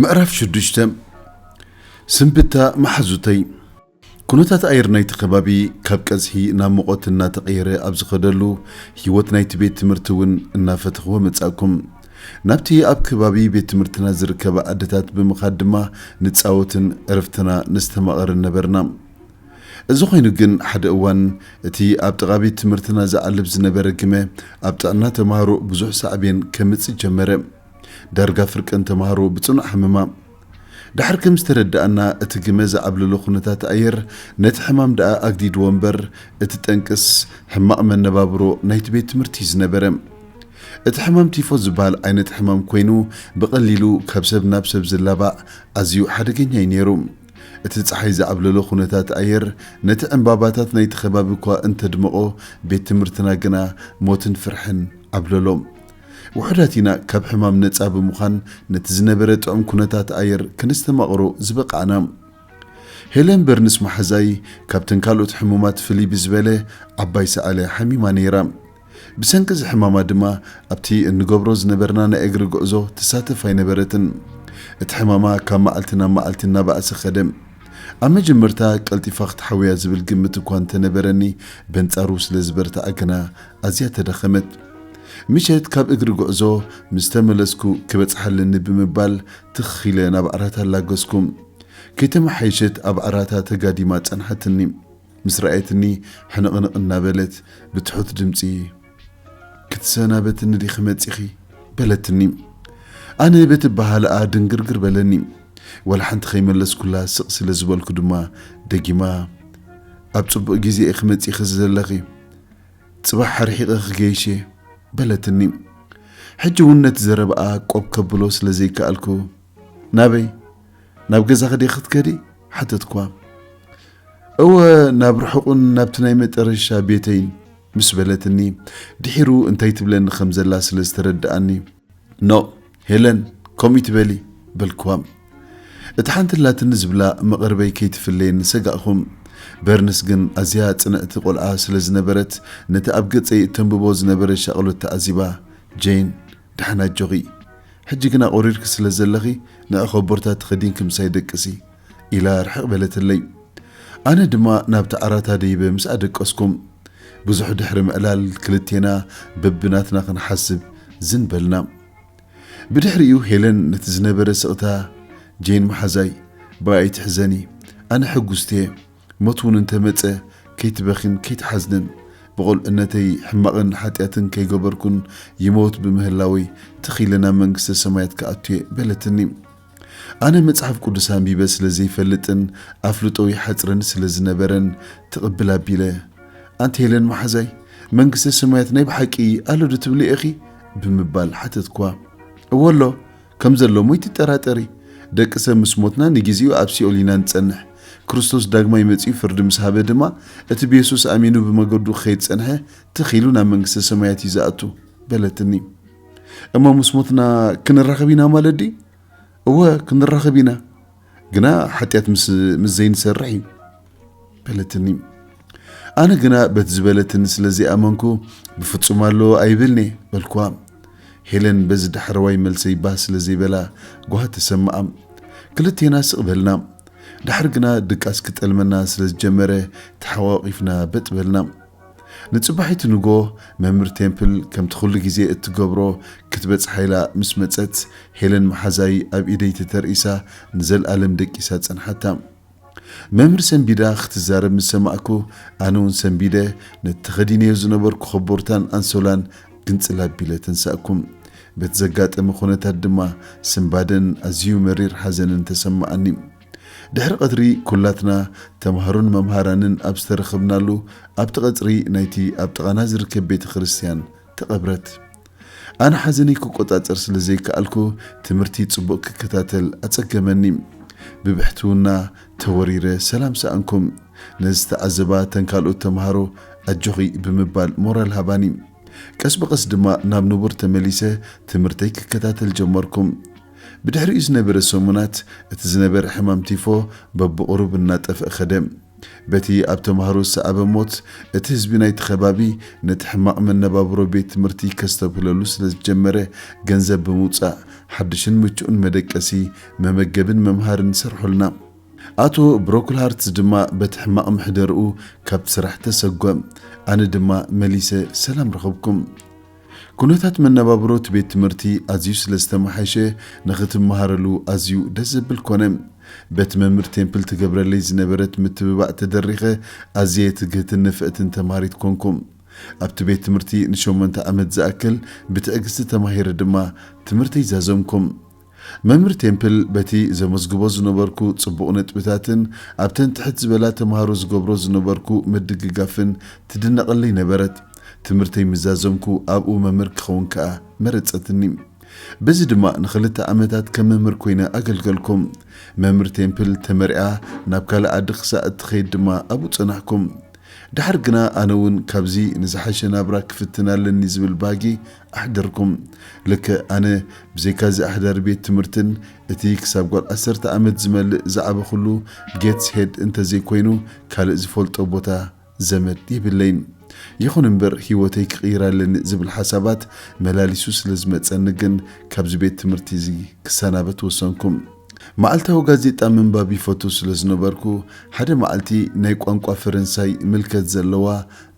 ምዕራፍ ሽዱሽተ ስንብታ መሓዙተይ ኩነታት ኣየር ናይቲ ከባቢ ካብ ቀዝሒ ናብ ሙቐት እናተቐየረ ኣብ ዝኸደሉ፣ ህይወት ናይቲ ቤት ትምህርቲ እውን እናፈተኽዎ መጻእኩም። ናብቲ ኣብ ከባቢ ቤት ትምህርትና ዝርከባ ኣደታት ብምኻድ ድማ ንጻወትን ዕረፍትና ነስተማቕርን ነበርና። እዚ ኾይኑ ግን ሓደ እዋን እቲ ኣብ ጥቓ ቤት ትምህርትና ዝዓልብ ዝነበረ ግመ ኣብ ጥዕና ተማሃሮ ብዙሕ ሳዕቤን ከምጽእ ጀመረ። ዳርጋ ፍርቀን ተማሃሮ ብጽኑዕ ሓመማ። ድሓር ከም ዝተረዳኣና እቲ ግመ ዝዓብለሎ ኩነታት ኣየር ነቲ ሕማም ድኣ ኣግዲድዎ እምበር እቲ ጠንቅስ ሕማቕ መነባብሮ ናይቲ ቤት ትምህርቲ እዩ ዝነበረ። እቲ ሕማም ቲፎዝ ዝበሃል ዓይነት ሕማም ኮይኑ ብቐሊሉ ካብ ሰብ ናብ ሰብ ዝላባዕ ኣዝዩ ሓደገኛ እዩ ነይሩ። እቲ ጸሓይ ዝዓብለሎ ኩነታት ኣየር ነቲ ዕንባባታት ናይቲ ከባቢ እኳ እንተድመቖ ቤት ትምህርትና ግና ሞትን ፍርሕን ዓብለሎ። ውሑዳት ኢና ካብ ሕማም ነጻ ብምዃን ነቲ ዝነበረ ጥዑም ኩነታት ኣየር ከነስተማቕሮ ዝበቓዕና። ሄለን በርንስ መሓዛይ ካብተን ካልኦት ሕሙማት ፍልይ ብዝበለ ዓባይ ሰዓለ ሓሚማ ነይራ። ብሰንኪ እዚ ሕማማ ድማ ኣብቲ እንገብሮ ዝነበርና ናይ እግሪ ጉዕዞ ትሳተፍ ኣይነበረትን። እቲ ሕማማ ካብ መዓልቲ ናብ መዓልቲ እናበኣሰ ከደ። ኣብ መጀመርታ ቀልጢፋ ክትሓውያ ዝብል ግምት እኳ እንተነበረኒ በንጻሩ ስለ ዝበርትዐ ግና ኣዝያ ተደኸመት። ምሸት ካብ እግሪ ጉዕዞ ምስ ተመለስኩ ክበጽሓ ኣለኒ ብምባል ትኽ ኢለ ናብ ዓራታ ኣላገስኩ። ከይተመሓየሸት ኣብ ዓራታ ተጋዲማ ጸንሓትኒ። ምስ ረኣየትኒ ሕንቕንቕ እናበለት ብትሑት ድምጺ ክትሰናበትኒ ዲኺ መጺኺ? በለትኒ። ኣነ በቲ ኣበሃህላኣ ድንግርግር በለኒ። ዋላ ሓንቲ ከይመለስኩላ ስቕ ስለ ዝበልኩ ድማ ደጊማ ኣብ ጽቡቕ ግዜ ኢኺ መጺኺ ዘለኺ። ጽባሕ ርሒቐ ክገይሽ'የ በለትኒ። ሕጂ'ውን ነቲ ዘረባኣ ቆብ ከብሎ ስለ ዘይከኣልኩ፣ ናበይ? ናብ ገዛኺ ድየ ክትከዲ? ሓተትኩዋ። እወ ናብ ርሑቕን ናብቲ ናይ መጠረሻ ቤተይን ምስ በለትኒ፣ ድሒሩ እንታይ ትብለኒ ከም ዘላ ስለ ዝተረድኣኒ፣ ኖእ ሄለን ከምኡ ትበሊ በልክዋም እቲ ሓንቲ ኣላትኒ ዝብላ መቐርበይ ከይትፍለየኒ ሰጋእኹም በርንስ ግን ኣዝያ ጽንዕቲ ቆልዓ ስለ ዝነበረት ነቲ ኣብ ገጸይ እተንብቦ ዝነበረ ሻቕሎት ተዓዚባ ጄን ደሓን ኣጆኺ ሕጂ ግን ኣቑሪርኪ ስለ ዘለኺ ንዕኾቦርታ ትኸዲንኪ ምሳይ ደቅሲ ኢላ ርሕቕ በለትለይ። ኣነ ድማ ናብቲ ዓራት ኣደይበ ምስ ኣደቀስኩም። ብዙሕ ድሕሪ ምዕላል ክልቴና በብናትና ክንሓስብ ዝን በልና። ብድሕሪኡ ሄለን ነቲ ዝነበረ ስቕታ፣ ጄን መሓዛይ፣ ብኣይ ኣይትሕዘኒ፣ ኣነ ሕጉስቲ'የ፣ ሞት'ውን እንተመጸ ከይትበኺን ከይትሓዝንን፣ ብቑልዕነተይ ሕማቕን ሓጢኣትን ከይገበርኩን ይመውት ብምህላወይ ትኽ ኢለ ናብ መንግስተ ሰማያት ክኣቱ'የ በለትኒ። ኣነ መጽሓፍ ቅዱስ ኣንቢበ ስለ ዘይፈልጥን ኣፍልጦ ይሓጽረኒ ስለ ዝነበረን ትቕብል ኣቢለ ኣንቲ ሄለን መሓዛይ መንግስተ ሰማያት ናይ ብሓቂ ኣሎ ዶ ትብሊ ኢኺ ብምባል ሓተትክዋ እዎ ኣሎ ከም ዘሎ እሞ ይትጠራጠሪ ደቂ ሰብ ምስ ሞትና ንግዜኡ ኣብ ሲኦል ኢና ንጸንሕ ክርስቶስ ዳግማይ መጺኡ ፍርዲ ምስ ሃበ ድማ እቲ ብየሱስ ኣሚኑ ብመገዱ ክኸይድ ዝጸንሐ ትኽ ኢሉ ናብ መንግስተ ሰማያት እዩ ዝኣቱ በለትኒ እሞ ምስ ሞትና ክንራኸብ ኢና ማለት ድዩ? እወ ክንራኸብ ኢና፣ ግና ሓጢኣት ምስ ዘይንሰርሕ እዩ በለትኒ። ኣነ ግና በቲ ዝበለትኒ ስለ ዘይኣመንኩ ብፍጹም ኣሎ ኣይብልን እየ በልኳ። ሄለን በዚ ዳሕረዋይ መልሰይ ባህ ስለ ዘይበላ ጓህ ተሰምኣ። ክልቴና ስቕ በልና። ድሓር ግና ድቃስ ክጠልመና ስለ ዝጀመረ ተሓቋቒፍና በጥ በልና። ንጽባሒቱ ንግሆ መምህር ቴምፕል ከምቲ ኹሉ ግዜ እትገብሮ ክትበጽሓ ኢላ ምስ መጸት ሄለን መሓዛይ ኣብ ኢደይ ተተርኢሳ ንዘልኣለም ደቂሳ ጸንሓታ። መምህር ሰንቢዳ ክትዛረብ ምስ ሰማዕኩ ኣነውን ሰንቢደ ነቲ ተኸዲነዮ ዝነበርኩ ኮቦርታን ኣንሶላን ግንጽል ኣቢለ ተንሳእኩ። በቲ ዘጋጠመ ኩነታት ድማ ስንባደን ኣዝዩ መሪር ሓዘንን ተሰማዓኒ። ድሕሪ ቐትሪ ኩላትና ተማሃሮን መምሃራንን ኣብ ዝተረኽብናሉ ኣብቲ ቐጽሪ ናይቲ ኣብ ጥቓና ዝርከብ ቤተ ክርስትያን ተቐብረት። ኣነ ሓዘነይ ክቆጻጸር ስለ ዘይከኣልኩ ትምህርቲ ጽቡቕ ክከታተል ኣጸገመኒ። ብብሕትውና ተወሪረ ሰላም ሰኣንኩም። ነዚ ዝተዓዘባ እተን ካልኦት ተማሃሮ ኣጆኺ ብምባል ሞራል ሃባኒ። ቀስ ብቐስ ድማ ናብ ንቡር ተመሊሰ ትምህርተይ ክከታተል ጀመርኩ። ብድሕሪኡ ዝነበረ ሰሙናት፣ እቲ ዝነበረ ሕማም ቲፎ በብቝሩብ እናጠፍኣ ከደ። በቲ ኣብ ተማሃሮ ዝሰዓበ ሞት፣ እቲ ህዝቢ ናይቲ ከባቢ ነቲ ሕማቕ መነባብሮ ቤት ትምህርቲ ከስተብህለሉ ስለ ዝጀመረ፣ ገንዘብ ብምውጻእ ሓድሽን ምቹእን መደቀሲ፣ መመገቢን መምሃሪን ሰርሑልና። ኣቶ ብሮክልሃርትዝ ድማ በቲ ሕማቕ ምሕደርኡ ካብቲ ስራሕ ተሰጐ። ኣነ ድማ መሊሰ ሰላም ረኸብኩ። ኩነታት መነባብሮ እቲ ቤት ትምህርቲ ኣዝዩ ስለ ዝተመሓየሸ ንኽትመሃረሉ ኣዝዩ ደስ ዘብል ኮነ። በቲ መምህር ቴምፕል ትገብረለይ ዝነበረት ምትብባዕ ተደሪኸ ኣዝየ ትግህትን ንፍዕትን ተምሃሪት ኮንኩ። ኣብቲ ቤት ትምህርቲ ንሸሞንተ ዓመት ዝኣክል ብትዕግስቲ ተማሂረ ድማ ትምህርተይ ዛዘምኩ። መምህር ቴምፕል በቲ ዘመዝግቦ ዝነበርኩ ጽቡቕ ነጥብታትን ኣብተን ትሕት ዝበላ ተማሃሮ ዝገብሮ ዝነበርኩ ምድግጋፍን ትድነቐለይ ነበረት። ትምህርተይ ምስ ዛዘምኩ ኣብኡ መምህር ክኸውን ከኣ መረጸትኒ። በዚ ድማ ንኽልተ ዓመታት ከም መምህር ኰይነ ኣገልገልኩ። መምህር ቴምፕል ተመርዕያ ናብ ካልእ ዓዲ ክሳዕ እትኸይድ ድማ ኣብኡ ጸናሕኩ። ደሓር ግና ኣነ እውን ካብዚ ንዝሓሸ ናብራ ክፍትን ኣለኒ ዝብል ባህጊ ኣሕደርኩም ልክዕ ኣነ ብዘይካዚ ኣሕዳሪ ቤት ትምህርትን እቲ ክሳብ ጓል ዓሰርተ ዓመት ዝመልእ ዝዓበኹሉ ጌትስ ሄድ እንተዘይኮይኑ ካልእ ዝፈልጦ ቦታ ዘመድ የብለይን። ይኹን እምበር ህይወተይ ክቕይር ኣለኒ ዝብል ሓሳባት መላሊሱ ስለዝመጸኒ ግን ካብዚ ቤት ትምህርቲ እዚ ክሰናበት ወሰንኩ። መዓልታዊ ጋዜጣ ምንባብ ይፈቱ ስለዝነበርኩ ሓደ መዓልቲ ናይ ቋንቋ ፈረንሳይ ምልከት ዘለዋ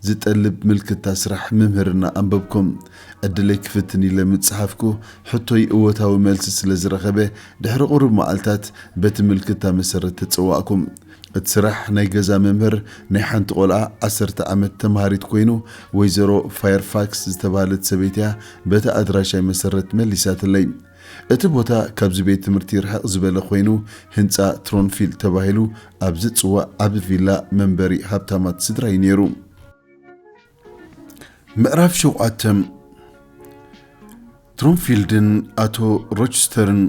ዝጠልብ ምልክታ ስራሕ ምምህርና ኣንበብኩም። ዕድለይ ክፍትን ኢለ ምጽሓፍኩ፣ ሕቶይ እወታዊ መልሲ ስለ ዝረኸበ፣ ድሕሪ ቁሩብ መዓልታት በቲ ምልክታ መሰረት ተጸዋእኩም። እቲ ስራሕ ናይ ገዛ መምህር ናይ ሓንቲ ቆልዓ ዓሰርተ ዓመት ተማሃሪት ኮይኑ፣ ወይዘሮ ፋየርፋክስ ዝተባህለት ሰበይቲ'ያ በቲ ኣድራሻይ መሰረት መሊሳትለይ። እቲ ቦታ ካብዚ ቤት ትምህርቲ ርሕቕ ዝበለ ኮይኑ ህንጻ ትሮንፊልድ ተባሂሉ ኣብ ዝጽዋዕ ዓቢ ቪላ መንበሪ ሃብታማት ስድራ እዩ ነይሩ። ምዕራፍ ሸውዓተ፣ ትሮንፊልድን ኣቶ ሮችስተርን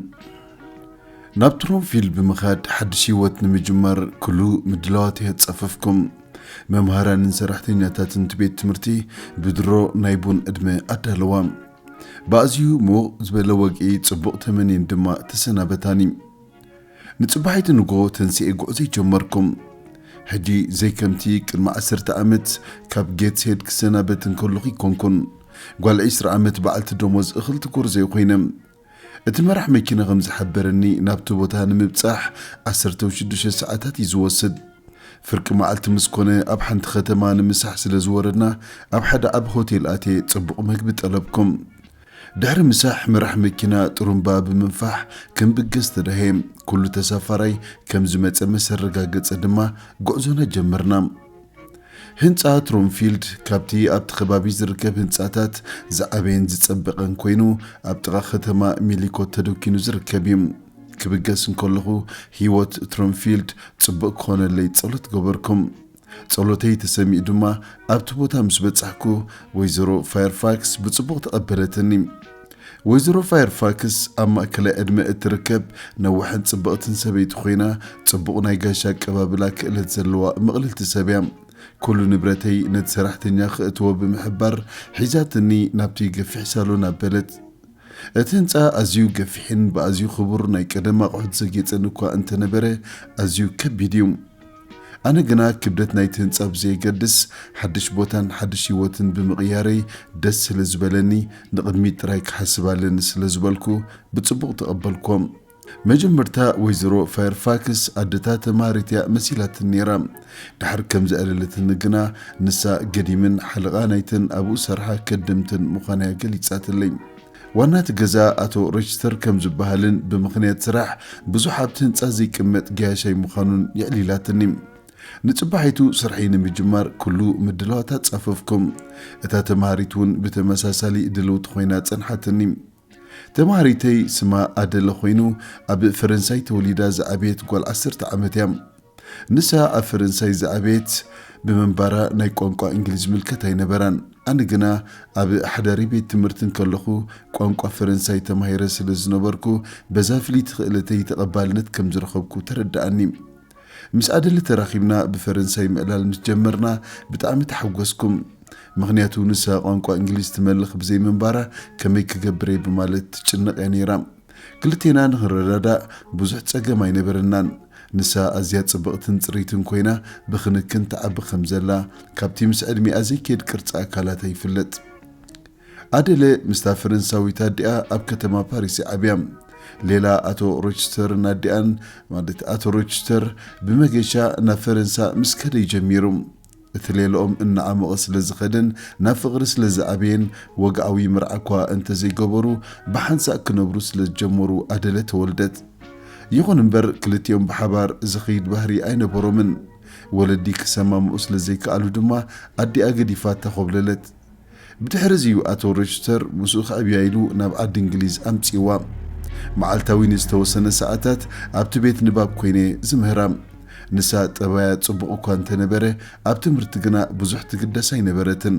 ናብ ትሮንፊልድ ብምኻድ ሓድሽ ህይወት ንምጅማር ኩሉ ምድላዋት የህጸፈፍኩም። መምሃራንን ሰራሕተኛታትን እቲ ቤት ትምህርቲ ብድሮ ናይ ቡን ዕድመ ኣዳለዋ። ብኣዝዩ ምውቕ ዝበለ ወግዒ ጽቡቕ ተመንየን ድማ ተሰናበታኒ። ንጽባሒቱ ንግሆ ተንሲኤ ጉዕዞይ ጀመርኩ። ሕጂ ዘይከምቲ ቅድሚ ዓሰርተ ዓመት ካብ ጌትስሄድ ክሰናበት እንከሎኹ ኣይኮንኩን። ጓል ዕስራ ዓመት በዓልቲ ደሞዝ እኽልቲ ጎርዞ እየ ኮይነ። እቲ መራሕ መኪና ከም ዝሓበረኒ ናብቲ ቦታ ንምብጻሕ ዓሰርተ ወይ ሽዱሽተ ሰዓታት እዩ ዝወስድ። ፍርቂ መዓልቲ ምስ ኮነ ኣብ ሓንቲ ከተማ ንምሳሕ ስለ ዝወረድና ኣብ ሓደ ዓቢ ሆቴል ኣትየ ጽቡቕ መግቢ ጠለብኩ። ድሕሪ ምሳሕ መራሕ መኪና ጥሩምባ ብምንፋሕ ክንብገስ ተዳህየ። ኩሉ ተሳፋራይ ከም ዝመጸ ምስ ኣረጋገጸ ድማ ጉዕዞና ጀመርና። ህንጻ ትሮምፊልድ ካብቲ ኣብቲ ከባቢ ዝርከብ ህንጻታት ዝዓበየን ዝጸበቐን ኮይኑ ኣብ ጥቓ ከተማ ሚሊኮት ተደኪኑ ዝርከብ እዩ። ክብገስ እንከለኹ ህይወት ትሮምፊልድ ጽቡቕ ክኾነለይ ጸሎት ገበርኩም። ጸሎተይ ተሰሚኡ ድማ ኣብቲ ቦታ ምስ በጻሕኩ ወይዘሮ ፋየርፋክስ ብጽቡቕ ተቐበለትኒ። ወይዘሮ ፋየርፋክስ ኣብ ማእከላይ ዕድመ እትርከብ ነዋሕን ጽብቕትን ሰበይቲ ኮይና፣ ጽቡቕ ናይ ጋሻ ኣቀባብላ ክእለት ዘለዋ ምቕልልቲ ሰብ እያ። ኩሉ ንብረተይ ነቲ ሰራሕተኛ ክእትዎ ብምሕባር ሒዛትኒ ናብቲ ገፊሕ ሳሎን ኣበለት። እቲ ህንጻ ኣዝዩ ገፊሕን ብኣዝዩ ክቡር ናይ ቀደም ኣቑሑት ዘጌጸን እኳ እንተነበረ፣ ኣዝዩ ከቢድ እዩ። ኣነ ግና ክብደት ናይቲ ህንጻ ብዘየገድስ ሓድሽ ቦታን ሓድሽ ህይወትን ብምቕያረይ ደስ ስለ ዝበለኒ ንቕድሚት ጥራይ ክሓስብ ኣለኒ ስለ ዝበልኩ ብጽቡቕ ተቐበልክዎም። መጀመርታ ወይዘሮ ፋየርፋክስ ኣደታ ተማሃሪት'ያ መሲላትኒ ነይራ። ድሓር ከም ዘዕለለትኒ ግና ንሳ ገዲምን ሓለቓ ናይተን ኣብኡ ዝሰርሓ ከደምትን ምዃና'ያ ገሊጻትለይ። ዋና እቲ ገዛ ኣቶ ሮችስተር ከም ዝበሃልን ብምኽንያት ስራሕ ብዙሕ ኣብቲ ህንጻ ዘይቅመጥ ገያሻይ ምዃኑን የዕሊላትኒ። ንጽባሒቱ ስርሐይ ንምጅማር ኩሉ ምድላዋት ኣጻፈፍኩም። እታ ተመሃሪት እውን ብተመሳሳሊ ድልውቲ ኮይና ጸንሓትኒ። ተመሃሪተይ ስማ ኣደለ ኮይኑ ኣብ ፈረንሳይ ተወሊዳ ዝዓበየት ጓል ዓሰርተ ዓመት እያ። ንሳ ኣብ ፈረንሳይ ዝዓበየት ብምንባራ ናይ ቋንቋ እንግሊዝ ዝምልከት ኣይነበራን። ኣነ ግና ኣብ ሓዳሪ ቤት ትምህርቲ እንከለኹ ቋንቋ ፈረንሳይ ተማሂረ ስለ ዝነበርኩ በዛ ፍልይቲ ክእለተይ ተቐባልነት ከም ዝረኸብኩ ተረድኣኒ። ምስ ኣደለ ተራኺብና ብፈረንሳይ ምዕላል ምስ ጀመርና ብጣዕሚ ተሓጐስኩም። ምኽንያቱ ንሳ ቋንቋ እንግሊዝ ትመልኽ ብዘይምንባራ ከመይ ክገብር እየ ብማለት ትጭነቕ እያ ነይራ። ክልቴና ንኽንረዳዳእ ብዙሕ ጸገም ኣይነበረናን። ንሳ ኣዝያ ጽብቕትን ጽርይትን ኮይና ብኽንክን ትዓቢ ከም ዘላ ካብቲ ምስ ዕድሚኣ ዘይከይድ ቅርጺ ኣካላታ ይፍለጥ። ኣደለ ምስታ ፈረንሳዊት ኣዲኣ ኣብ ከተማ ፓሪስ እያ ዓብያ። ሌላ ኣቶ ሮችስተርን ኣዲኣን ማለት ኣቶ ሮችስተር ብመገሻ ናብ ፈረንሳ ምስ ከደ እዩ ጀሚሩ። እቲ ሌላኦም እናዓሞቐ ስለ ዝኸደን ናብ ፍቕሪ ስለ ዝኣበየን፣ ወግዓዊ መርዓ'ኳ እንተ ዘይገበሩ፣ ብሓንሳእ ክነብሩ ስለ ዝጀመሩ ኣደለ ተወልደት። ይኹን እምበር ክልቲኦም ብሓባር ዝኸይድ ባህሪ ኣይነበሮምን። ወለዲ ክሰማምዑ ስለ ዘይከኣሉ ድማ ኣዲኣ ገዲፋታ ኰብለለት። ብድሕርዚ እዩ ኣቶ ሮችስተር ምስኡ ክዕብያ ኢሉ ናብ ዓዲ እንግሊዝ ኣምጺእዋ። መዓልታዊ ንዝተወሰነ ሰዓታት ኣብቲ ቤት ንባብ ኰይነ እየ ዝምህራ። ንሳ ጠባያ ጽቡቕ እኳ እንተ ነበረ፣ ኣብ ትምህርቲ ግና ብዙሕ ትግደስ ኣይነበረትን።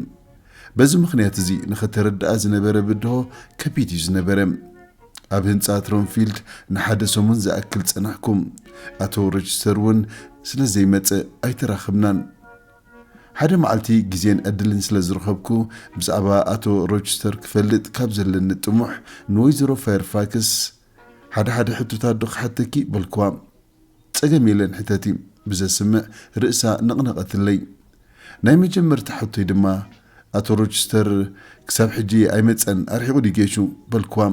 በዚ ምኽንያት እዚ ንኸተረድኣ ዝነበረ ብድሆ ከቢድ እዩ ዝነበረ። ኣብ ህንጻ ትሮንፊልድ ንሓደ ሰሙን ዝኣክል ጸናሕኩ። ኣቶ ሮችስተር እውን ስለ ዘይመጸ ኣይተራኸብናን። ሓደ መዓልቲ ግዜን ዕድልን ስለ ዝረኸብኩ፣ ብዛዕባ ኣቶ ሮችስተር ክፈልጥ ካብ ዘለኒ ጥሙሕ፣ ንወይዘሮ ፋየርፋክስ፣ ሓደ ሓደ ሕቶታትዶ ክሓተኪ? በልክዋ። ጸገም የለን ሕተቲ። ብዘስምዕ ርእሳ ነቕነቐትለይ። ናይ መጀመርታ ሕቶይ ድማ፣ ኣቶ ሮችስተር ክሳብ ሕጂ ኣይመጸን፣ ኣርሒቑ ድዩ ጌሹ? በልክዋ።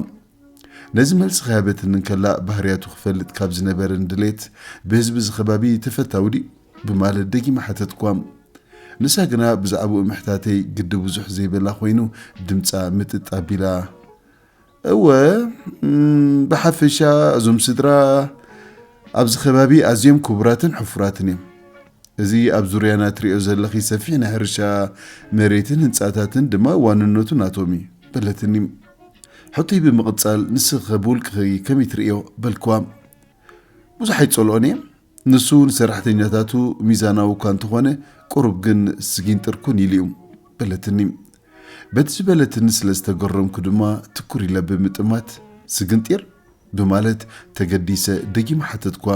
ነዚ መልሲ ከይሃበትኒ እንከላ፣ ባህርያቱ ክፈልጥ ካብ ዝነበረኒ ድሌት፣ ብህዝቢ እዚ ከባቢ ተፈታዊ ድዩ? ብማለት ደጊመ ሓተትክዋም። ንሳ ግና ብዛዕባኡ ምሕታተይ ግዲ ብዙሕ ዘይበላ ኮይኑ ድምጻ ምጥጥ ኣቢላ፣ እወ፣ ብሓፈሻ እዞም ስድራ ኣብዚ ከባቢ ኣዝዮም ክቡራትን ሕፉራትን እዮም። እዚ ኣብ ዙርያና እትሪእዮ ዘለኺ ሰፊሕ ናይ ሕርሻ መሬትን ህንጻታትን ድማ ዋንነቱ ናቶም እዩ በለትኒ። ሕቶይ ብምቕጻል ንስኺኸ ብውልቅኺ ከመይ ትርእዮ በልክዋ። ብዙሕ ኣይጸልኦን እየ፣ ንሱ ንሰራሕተኛታቱ ሚዛናዊ እኳ እንተኾነ፣ ቁሩብ ግን ስጊንጥር ኩን ኢሉ'ዩ። በለትኒ። በቲ ዝበለትኒ ስለ ዝተገረምኩ ድማ ትኩር ኢለ ብምጥማት፣ ስግንጢር? ብማለት ተገዲሰ ደጊመ ሓተትኩዋ።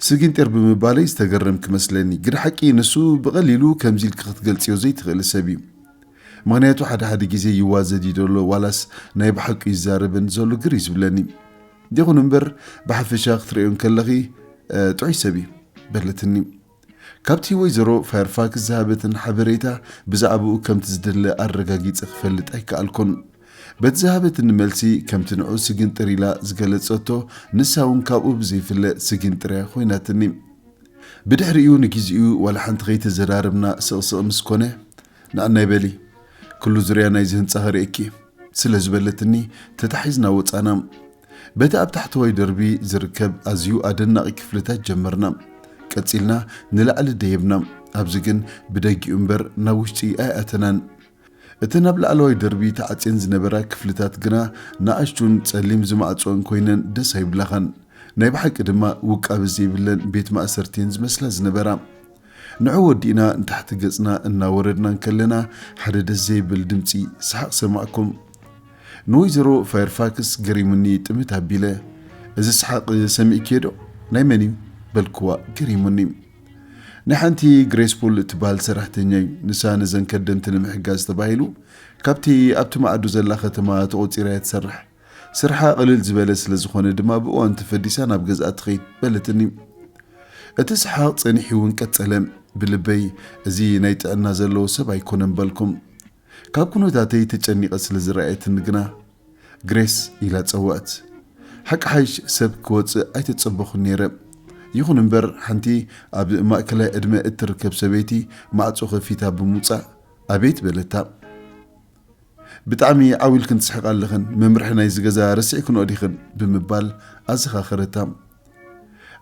ስጊንጢር ብምባለይ ዝተገረምኪ መስለኒ፣ ግደ ሓቂ ንሱ ብቐሊሉ ከምዚ ኢልኪ ክትገልጽዮ ዘይትኽእሊ ሰብ'ዩ። ምኽንያቱ ሓደ ሓደ ግዜ ይዋዘድ እዩ ደሎ ዋላስ ናይ ብሓቂ'ዩ ዝዛረበኒ ዘሎ ግር እዩ ዝብለኒ። ይኹን እምበር ብሓፈሻ ክትርእዮ እንከለኺ ጥዑይ ሰብ እዩ በለትኒ። ካብቲ ወይዘሮ ፋየርፋክስ ዝሃበትን ሓበሬታ ብዛዕባኡ ከምቲ ዝደለ ኣረጋጊጸ ክፈልጥ ኣይከኣልኩን። በቲ ዝሃበትኒ መልሲ ከምቲ ንዑ ስግንጥር ኢላ ዝገለጸቶ ንሳ እውን ካብኡ ብዘይፍለ ስግንጥር እያ ኮይናትኒ። ብድሕሪኡ ንጊዚኡ ዋላ ሓንቲ ከይተዘራረብና ስቕስቕ ምስ ኮነ ንኣናይ በሊ ክሉ ዙርያ ናይዚ ህንጻ ከርእየኪ እየ ስለ ዝበለትኒ ተታሒዝና ወጻና። በቲ ኣብ ታሕተዋይ ደርቢ ዝርከብ ኣዝዩ ኣደናቒ ክፍልታት ጀመርና። ቀጺልና ንላዕሊ ደየብና፣ ኣብዚ ግን ብደጊኡ እምበር ናብ ውሽጢ ኣይኣተናን። እተን ኣብ ላዕለዋይ ደርቢ ተዓጽየን ዝነበራ ክፍልታት ግና ንኣሽቱን ጸሊም ዝማዕጽኦን ኮይነን ደስ ኣይብላኻን። ናይ ብሓቂ ድማ ውቃበ ዘይብለን ቤት ማእሰርቲ እየን ዝመስላ ዝነበራ። ንዑ ወዲእና ንታሕቲ ገጽና እናወረድና እንከለና ሓደ ደስ ዘይብል ድምጺ ሰሓቕ ሰማዕኩም። ንወይዘሮ ፋየርፋክስ ገሪሙኒ ጥምት ኣቢለ፣ እዚ ሰሓቕ ሰሚዕክዮዶ? ናይ መን እዩ? በልክዋ ገሪሙኒ። ናይ ሓንቲ ግሬስፉል እትበሃል ሰራሕተኛ እዩ፣ ንሳ ነዘን ከደምቲ ንምሕጋዝ ተባሂሉ ካብቲ ኣብቲ ማዕዶ ዘላ ከተማ ተቖጺራ እያ ትሰርሕ። ስርሓ ቅልል ዝበለ ስለ ዝኾነ ድማ ብእዋኑ ተፈዲሳ ናብ ገዝኣ ትኸይድ በለትኒ። እቲ ሰሓቕ ጸኒሒ'ውን ቀጸለ። ብልበይ እዚ ናይ ጥዕና ዘለዎ ሰብ ኣይኮነን በልኩም። ካብ ኩነታተይ ተጨኒቐ ስለ ዝረኣየትኒ ግና ግሬስ ኢላ ጸውዐት። ሓቅሓይሽ ሰብ ክወጽእ ኣይተጸበኹን ነይረ። ይኹን እምበር ሓንቲ ኣብ ማእከላይ ዕድመ እትርከብ ሰበይቲ ማዕጾ ከፊታ ብምውጻእ ኣቤት በለታ። ብጣዕሚ ዓው ኢልክን ትስሕቃ ኣለኽን፣ መምርሒ ናይዚ ገዛ ረሲዕክንኦ ዲኽን? ብምባል ኣዘኻኸረታ።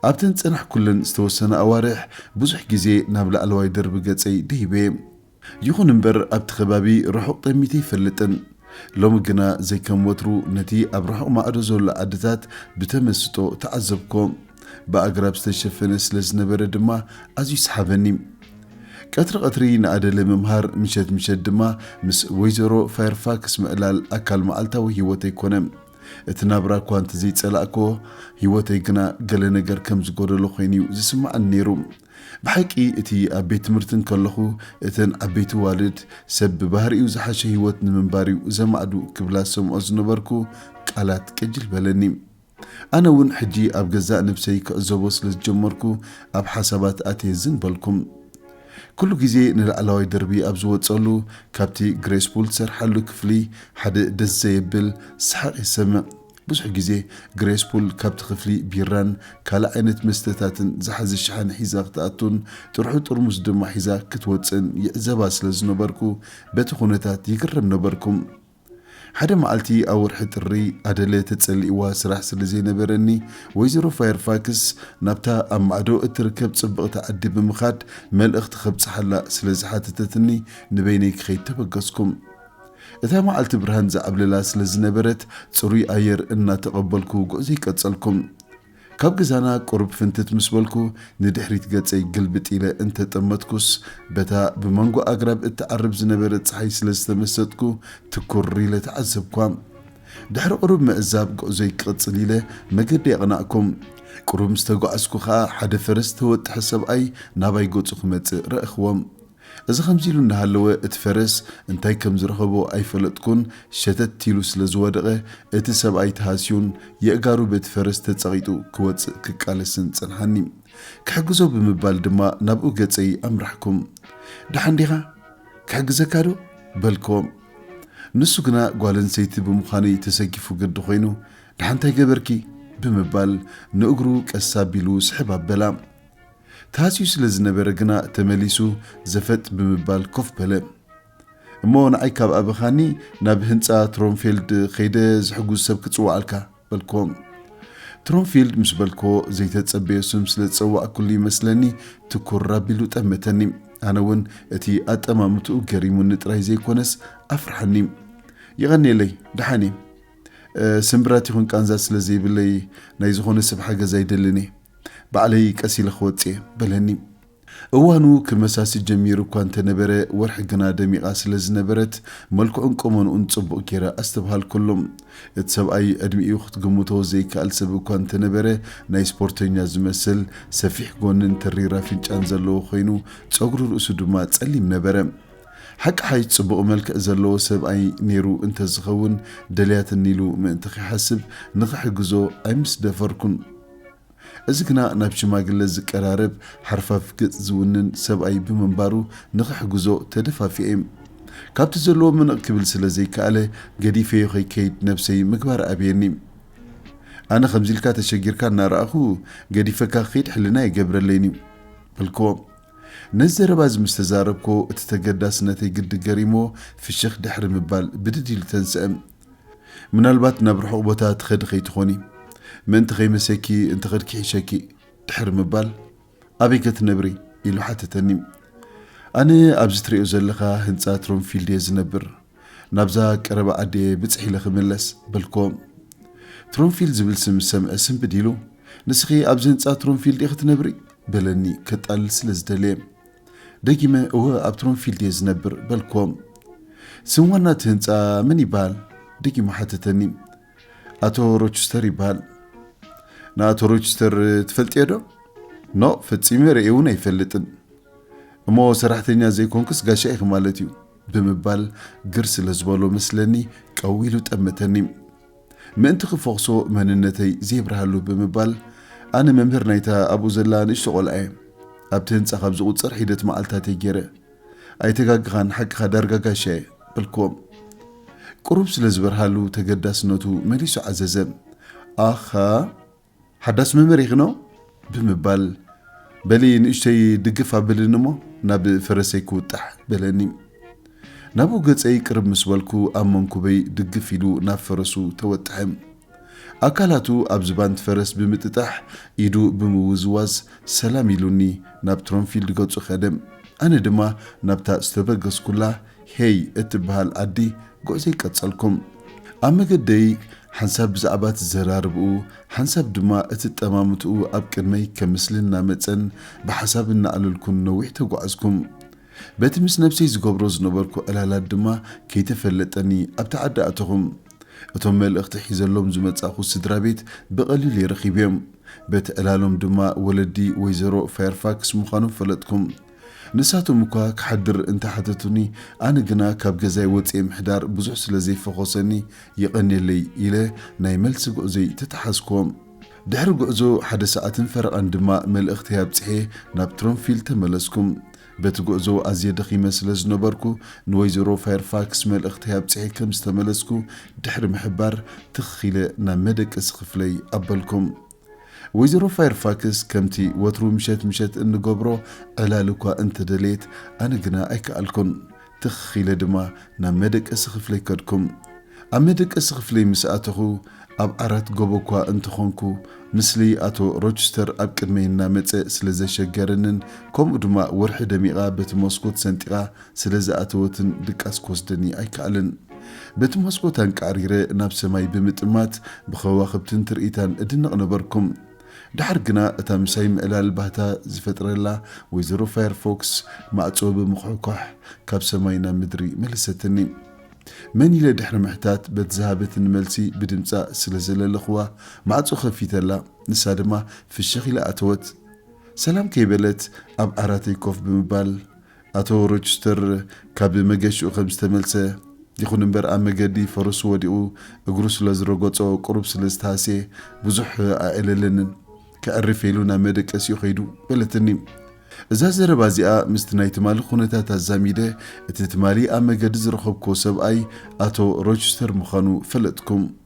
ኣብተን ዝጸናሕኩለን ዝተወሰና ኣዋርሕ ብዙሕ ግዜ ናብ ላዕለዋይ ደርቢ ገጸይ ደይበ። ይኹን እምበር ኣብቲ ከባቢ ርሑቕ ጠሚተ ኣይፈልጥን። ሎሚ ግና ዘይከም ወትሩ ነቲ ኣብ ርሑቕ ማዕዶ ዘሎ ዓድታት ብተመስጦ ተዓዘብኩዎ። ብኣግራብ ዝተሸፈነ ስለ ዝነበረ ድማ ኣዝዩ ሰሓበኒ። ቀትሪ ቀትሪ ንኣደለ ምምሃር፣ ምሸት ምሸት ድማ ምስ ወይዘሮ ፋየርፋክስ ምዕላል ኣካል መዓልታዊ ህይወተይ ኮነ። እቲ ናብራ እኳ እንተዘይጸላእክዎ፣ ህይወተይ ግና ገለ ነገር ከም ዝጎደሎ ኮይኑ'ዩ ዝስምዓኒ ነይሩ። ብሓቂ እቲ ኣብ ቤት ትምህርቲ እንከለኹ እተን ዓበይቲ ኣዋልድ ሰብ ብባህሪኡ ዝሓሸ ህይወት ንምንባር'ዩ ዘማዕዱ ክብላ ዝሰምዖ ዝነበርኩ ቃላት ቅጅል በለኒ። ኣነ ውን ሕጂ ኣብ ገዛእ ነብሰይ ክዕዘቦ ስለ ዝጀመርኩ ኣብ ሓሳባት ኣትየ ዝን በልኩም። ኩሉ ግዜ ንላዕላዋይ ደርቢ ኣብ ዝወጸሉ ካብቲ ግሬስ ፑል ትሰርሓሉ ክፍሊ ሓደ ደስ ዘየብል ሰሓቕ ይሰምዕ። ብዙሕ ግዜ ግሬስ ፑል ካብቲ ክፍሊ ቢራን ካልእ ዓይነት መስተታትን ዝሓዘ ሸሓኒ ሒዛ ክትኣቱን ጥርሑ ጥርሙስ ድማ ሒዛ ክትወጽእን ይዕዘባ ስለ ዝነበርኩ በቲ ኩነታት ይግረም ነበርኩ። ሓደ መዓልቲ ኣብ ወርሒ ጥሪ፣ ኣደለ ተጸሊእዋ ስራሕ ስለ ዘይነበረኒ፣ ወይዘሮ ፋየርፋክስ ናብታ ኣብ ማዕዶ እትርከብ ጽብቕቲ ዓዲ ብምኻድ መልእኽቲ ከብጽሓላ ስለ ዝሓተተትኒ ንበይነይ ክኸይድ ተበገስኩ። እታ መዓልቲ ብርሃን ዝዓብለላ ስለ ዝነበረት፣ ጽሩይ ኣየር እናተቐበልኩ ጉዕዞይ ቀጸልኩ። ካብ ገዛና ቁሩብ ፍንትት ምስ በልኩ፣ ንድሕሪት ገጸይ ግልብጥ ኢለ እንተ ጠመትኩስ፣ በታ ብመንጎ ኣግራብ እትዓርብ ዝነበረት ጸሓይ ስለ ዝተመሰጥኩ፣ ትኩር ኢለ ተዓዘብኳ። ድሕሪ ቁሩብ ምዕዛብ፣ ጉዕዞይ ክቕጽል ኢለ መገዲ ኣቕናእኩ። ቁሩብ ምስ ተጓዓዝኩ ከኣ፣ ሓደ ፈረስ ዝተወጥሐ ሰብኣይ ናባይ ገጹ ክመጽእ ረኣኹዎ። እዚ ከምዚ ኢሉ እንዳሃለወ እቲ ፈረስ እንታይ ከም ዝረኸቦ ኣይፈለጥኩን ሸተት ኢሉ ስለ ዝወደቐ እቲ ሰብኣይ ተሃስዩን የእጋሩ በቲ ፈረስ ተጸቒጡ ክወጽእ ክቃለስን ጸንሓኒ። ክሕግዞ ብምባል ድማ ናብኡ ገጸይ ኣምራሕኩ። ደሓን ዲኻ? ክሕግዘካ ዶ? በልክዎ። ንሱ ግና ጓል ኣንሰይቲ ብምዃነይ ተሰኪፉ ግዲ ኮይኑ ደሓን እንታይ ገበርኪ? ብምባል ንእግሩ ቀስ ኣቢሉ ስሕብ ኣበላ። ተሃስዩ ስለ ዝነበረ ግና ተመሊሱ ዘፈጥ ብምባል ኮፍ በለ። እሞ ንዓይ ካብ ኣበኻኒ ናብ ህንጻ ትሮንፌልድ ከይደ ዝሕጉዝ ሰብ ክጽውዓልካ። በልክዎ። ትሮንፊልድ ምስ በልክዎ ዘይተጸበዮ ስም ስለ ዝጸዋዕኩሉ ይመስለኒ ትኩር ኣቢሉ ጠመተኒ። ኣነ እውን እቲ ኣጠማምትኡ ገሪሙኒ ጥራይ ዘይኮነስ ኣፍርሓኒ። የቐንየለይ፣ ደሓን እየ። ስምብራት ይኹን ቃንዛ ስለ ዘይብለይ ናይ ዝኾነ ሰብ ሓገዝ ኣይደልን እየ። ባዕለይ ቀስ ኢለ ክወጽእ'የ፣ በለኒ። እዋኑ ክመሳሲ ጀሚሩ እኳ እንተ ነበረ፣ ወርሒ ግና ደሚቓ ስለ ዝነበረት፣ መልክዑን ቁመንኡን ጽቡቕ ገይረ ኣስተብሃልኩሉ። እቲ ሰብኣይ ዕድሚኡ ክትግምቶ ዘይከኣል ሰብ እኳ እንተ ነበረ፣ ናይ ስፖርተኛ ዝመስል፣ ሰፊሕ ጎንን ተሪር ኣፍንጫን ዘለዎ ኮይኑ፣ ጸጉሪ ርእሱ ድማ ጸሊም ነበረ። ሓቅሓይሽ ጽቡቕ መልክዕ ዘለዎ ሰብኣይ ነይሩ እንተ ዝኸውን ደልያትኒ ኢሉ ምእንቲ ኺሓስብ ንኽሕግዞ ኣይምስደፈርኩን። እዚ ግና ናብ ሽማግለ ዝቀራረብ ሓርፋፍ ገጽ ዝውንን ሰብኣይ ብምንባሩ ንኽሕግዞ ተደፋፊኤ። ካብቲ ዘለዎ ምንቕ ክብል ስለ ዘይከኣለ ገዲፈዮ ከይከይድ ነብሰይ ምግባር ኣበየኒ። ኣነ ከምዚ ኢልካ ተሸጊርካ እናረኣኹ ገዲፈካ ክኸይድ ሕልና ኣይገብረለይን እዩ። በልክዎ። ነዚ ዘረባ እዚ ምስ ተዛረብክዎ እቲ ተገዳስነተይ ግዲ ገሪምዎ ፍሽኽ ድሕሪ ምባል ብድድ ኢሉ ተንስአ። ምናልባት ናብ ርሑቕ ቦታ ትኸዲ ከይትኾኒ፣ ምእንቲ ከይመሰኪ እንተ ኸድኪ ሒሸኪ ድሕሪ ምባል፣ ኣበይከ ትነብሪ? ኢሉ ሓተተኒ። ኣነ ኣብዚ ትርእዮ ዘለኻ ህንጻ ትሮምፊልድ እየ ዝነብር፣ ናብዛ ቀረባ ዓዲየ ብጽሕ ኢለ ክምለስ፣ በልክዎ። ትሮምፊልድ ዝብል ስም ምስ ሰምዐ ስንብድ ኢሉ፣ ንስኺ ኣብዚ ህንጻ ትሮምፊልድ ኢኺ ትነብሪ? በለኒ ከጣልል ስለ ዝደለየ። ደጊመ እወ ኣብ ትሮምፊልድ እየ ዝነብር በልክዎ። ስም ዋና እቲ ህንጻ መን ይበሃል? ደጊሙ ሓተተኒ። ኣቶ ሮችስተር ይበሃል። ንኣቶ ሮችስተር ትፈልጥዮዶ? ኖእ ፈጺመ ርእየ እውን ኣይፈልጥን። እሞ ሰራሕተኛ ዘይኮንክስ ጋሻ ኢኺ ማለት እዩ ብምባል ግር ስለ ዝበሎ መስለኒ ቀው ኢሉ ጠመተኒ። ምእንቲ ክፈኹሶ መንነተይ ዜብርሃሉ ብምባል፣ ኣነ መምህር ናይታ ኣብኡ ዘላ ንእሽቶ ቈልዓ እየ። ኣብቲ ህንጻ ኻብ ዚቝጸር ሒደት መዓልትታት እየ ገይረ። ኣይተጋገኻን፣ ሓቅኻ ዳርጋ ጋሻ እየ፣ በልክዎም። ቍሩብ ስለ ዝበርሃሉ፣ ተገዳስነቱ መሊሱ ዓዘዘ። ኣኻ! ሓዳስ መምህር ይኽኖ ብምባል በሊ ንእሽተይ ድግፍ ኣብልን እሞ ናብ ፈረሰይ ክውጣሕ በለኒ። ናብኡ ገጸይ ቅርብ ምስ በልኩ ኣብ መንኩበይ ድግፍ ኢሉ ናብ ፈረሱ ተወጥሐ። ኣካላቱ ኣብ ዝባንት ፈረስ ብምጥጣሕ ኢዱ ብምውዝዋዝ ሰላም ኢሉኒ ናብ ትሮንፊልድ ገጹ ከደ። ኣነ ድማ ናብታ ዝተበገስኩላ ሄይ እትብሃል ኣዲ ጉዕዘይ ቀጸልኩም ኣብ መገደይ ሓንሳብ ብዛዕባ ትዘራርብኡ ሓንሳብ ድማ እቲ ጠማምትኡ ኣብ ቅድመይ ከም ምስሊ እናመጸን ብሓሳብ እናዕለልኩን ነዊሕ ተጓዕዝኩም በቲ ምስ ነብሰይ ዝገብሮ ዝነበርኩ ዕላላት ድማ ከይተፈለጠኒ ኣብቲ ዓዲ ኣተኹም እቶም መልእኽቲ ሒዘሎም ዝመጻእኹ ስድራ ቤት ብቐሊሉይ ረኺብዮም በቲ ዕላሎም ድማ ወለዲ ወይዘሮ ፋየርፋክስ ምዃኖም ፈለጥኩም ንሳቶም እኳ ክሓድር እንተ ሓተቱኒ፣ ኣነ ግና ካብ ገዛይ ወጺኤ ምሕዳር ብዙሕ ስለ ዘይፈኾሰኒ፣ የቐንየለይ ኢለ ናይ መልሲ ጉዕዞይ ተታሓዝኩዎም። ድሕሪ ጉዕዞ ሓደ ሰዓትን ፈረቓን ድማ መልእኽተይ ኣብጺሐ ናብ ትሮምፊል ተመለስኩ። በቲ ጉዕዞ ኣዝየ ደኺመ ስለ ዝነበርኩ፣ ንወይዘሮ ፋየርፋክስ መልእኽተይ ኣብጺሐ ከም ዝተመለስኩ ድሕሪ ምሕባር፣ ትኽ ኢለ ናብ መደቀሲ ክፍለይ ኣበልኩ። ወይዘሮ ፋየርፋክስ ከምቲ ወትሩ ምሸት ምሸት እንገብሮ ዕላል እኳ እንተደለየት ኣነ ግና ኣይከኣልኩን። ትኽ ኢለ ድማ ናብ መደቀሲ ክፍለይ ከድኩ። ኣብ መደቀሲ ክፍለይ ምስ ኣተኹ ኣብ ዓራት ጎቦ እኳ እንተኾንኩ ምስሊ ኣቶ ሮችስተር ኣብ ቅድመይ እናመጸ ስለ ዘሸገረንን ከምኡ ድማ ወርሒ ደሚቓ በቲ መስኮት ሰንጢቓ ስለ ዝኣተወትን ድቃስ ክወስደኒ ኣይከኣለን። በቲ መስኮት ኣንቃዕሪረ ናብ ሰማይ ብምጥማት ብኸዋኽብትን ትርኢታን እድነቕ ነበርኩ። ደሓር ግና እታ ምሳይ ምዕላል ባህታ ዝፈጥረላ ወይዘሮ ፋየርፎክስ ማዕጾ ብምኹሕኳሕ ካብ ሰማይ ናብ ምድሪ መለሰትኒ። መን ኢለ ድሕሪ ምሕታት በቲ ዝሃበትኒ መልሲ ብድምጻ ስለ ዘለለኹዋ ማዕጾ ከፊተላ ንሳ ድማ ፍሽኽ ኢላ ኣተወት። ሰላም ከይበለት ኣብ ዓራተይ ኮፍ ብምባል ኣቶ ሮችስተር ካብ መገሽኡ ከም ዝተመልሰ፣ ይኹን እምበር ኣብ መገዲ ፈረሱ ወዲቑ እግሩ ስለ ዝረገጾ ቁሩብ ስለ ዝተሃስየ ብዙሕ ኣዕለለንን። ከዕርፍ ኢሉ ናብ መደቀሲኡ ከይዱ በለትኒ። እዛ ዘረባ እዚኣ ምስቲ ናይ ትማሊ ኩነታት ኣዛሚደ እቲ ትማሊ ኣብ መገዲ ዝረኸብኩዎ ሰብኣይ ኣቶ ሮችስተር ምዃኑ ፈለጥኩ።